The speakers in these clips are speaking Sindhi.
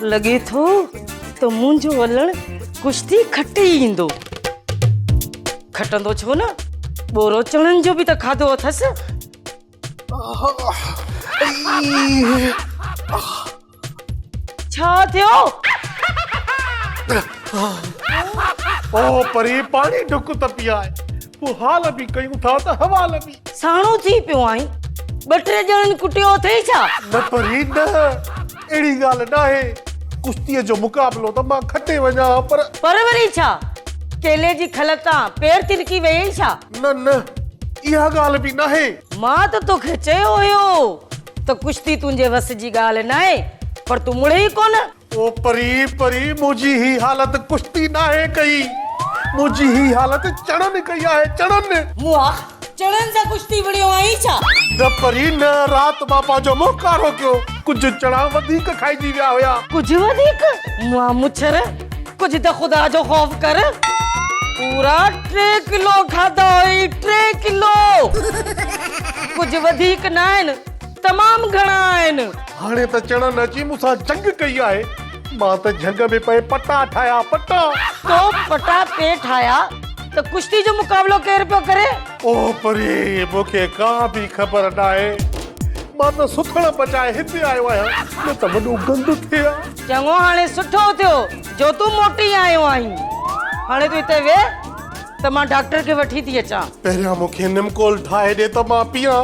لڳي ٿو ته منهنجو ولڻ ڪشتي کٽي ئي ايندو. کٽندو ڇو نه، ٻورو چڻن جو به ته کاڌو اٿس. ڇا ٿيو؟ او پري پاڻي ڍڪ ته پيئائي. تو حال به ڪيون ٿا ته حوال به. ساڻو ٿي پيو آهين، ٻه ٽي ڄڻن ڪٽيو اٿئي ڇا؟ نه پرين نه، اهڙي ڳالهه ناهي. ڪشتيء جو مقابلو ته مان کٽي وڃان ها پر. پر وري ڇا؟ ڪيلي جي کل تان پير تلڪي ويئي ڇا؟ نه نه، اها ڳالهه به ناهي. مان ته توکي چيو هيو ته ڪشتي تنهنجي وس جي ڳالهه ناهي، پر تون مڙهي ئي ڪونه. او پري پري منهنجي هي حالت ڪشتي ناهي ڪئي منهنجي هي حالت چڻن ڪئي آهي چڻن. موئا چڻن سان ڪشتي وڙهيو آهين ڇا؟ نه پري نه رات مان پنهنجو منهن ڪارو ڪيو ڪجهه چڻا وڌيڪ کائجي ويا هيا. ڪجهه وڌيڪ؟ موئا مڇر ڪجهه ته خدا جو خوف ڪر. پورا ٽي ڪلو کاڌا هئي ٽي ڪلو ڪجهه وڌيڪ ناهن. تمام گهڻا آهن. هاڻي ته چڙن اچي مون سان جنگ ڪئي آهي. مان ته جهنگ ۾ پئي پٽا ٺاهيا، پٽا! تو پٽا پئي ٺاهيا ته ڪشتي جو مقابلو ڪير پيو ڪري؟ او پري! مون کي ڪا به خبر ناهي. مان ته سٿڻ بچائي هتي آيو آهيان، نه ته وڏو گند ٿئي ها. چڱو هاڻي سٺو ٿيو جو تون موٽي آيو آهين. هاڻي تون هتي ويهه ته مان ڊاڪٽر کي وٺي ٿي اچان. پهريان مون کي نمڪول ٺاهي ڏي ته مان پيئان.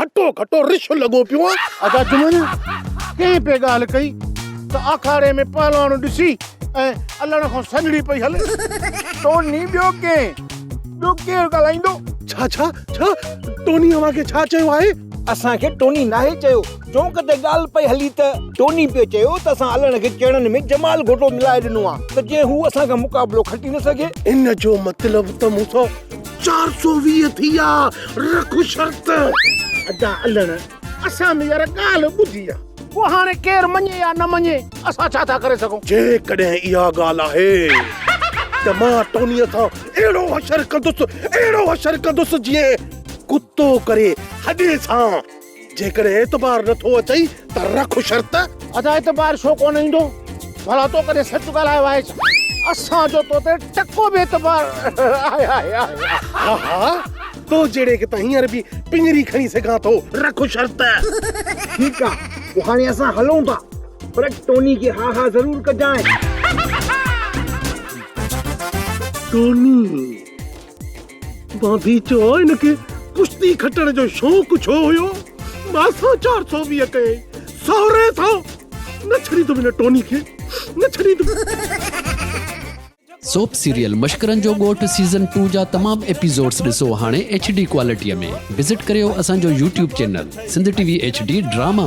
هٽو گهٽو رڇ لڳو پيو آهي. ادا جمن ڪنهن پئي ڳالهه ڪئي ته آکاڙي ۾ پهلوان ڏسي ۽ الڻ کان سنهڙي پئي هلي. ٽوني ٻيو ڪئين؟ ٻيو ڪير ڳالهائيندو؟ ڇا ڇا ڇا؟ ٽوني اوهان کي ڇا چيو آهي؟ اسان کي ٽوني ناهي چيو. چونڪ تي ڳالهه پئي هلي ته ٽوني پيو چيو ته اسان الڻ کي چيڻن ۾ جمال گهوٽو ملائي ڏنو آهي ته جيئن هو اسان کان مقابلو کٽي نه سگهي. ان جو مطلب ته مون سان چار سؤ ويهه ٿي آ رک شرط. ادا علڻ اسان به يار ڳالهه ٻڌي آ. پوء هاڻي ڪير مڃي يا نه مڃي اسان ڇا ٿا ڪري سگهون. جيڪڏهن اها ڳالهه آهي ته مان ٽونيء سان اهڙو حشر ڪندس اهڙو حشر ڪندس جيئن ڪتو ڪري هڏي سان. جيڪڏهن اعتبار نه ٿو اچئي ته رک شرط. ادا اعتبار ڇو ڪونه ايندو ڀلا تو ڪڏهن سچ ڳالهايو آهي ڇا اسان جو تو تي ٽڪو به اعتبار آهي آهي آهي ها ها تو جهڙي کي ته هينئر به پڃري کڻي سگهان ٿو رک شرط. ٺيڪ آ پو هاڻي اسان هلون ٿا پر ٽوني کي ها ها ضرور ڪجانء. ٽوني. بانديچو ان کي ڪشتي کٽڻ جو شوق ڇو هيو؟ مان سان چار سو ويهه ڪيائين، سهري سان نه ڇڏيندم ان ٽوني کي، نه ڇڏيندم. سوپ سيريل مشڪرن جو ڳوٺ سيزن ٽو جا تمام ايپيزوڊس ڏسو هاڻي ايڇ ڊي ڪوالٽيء ۾ وزٽ ڪريو اسان جو YouTube channel Sindh T V H D drama.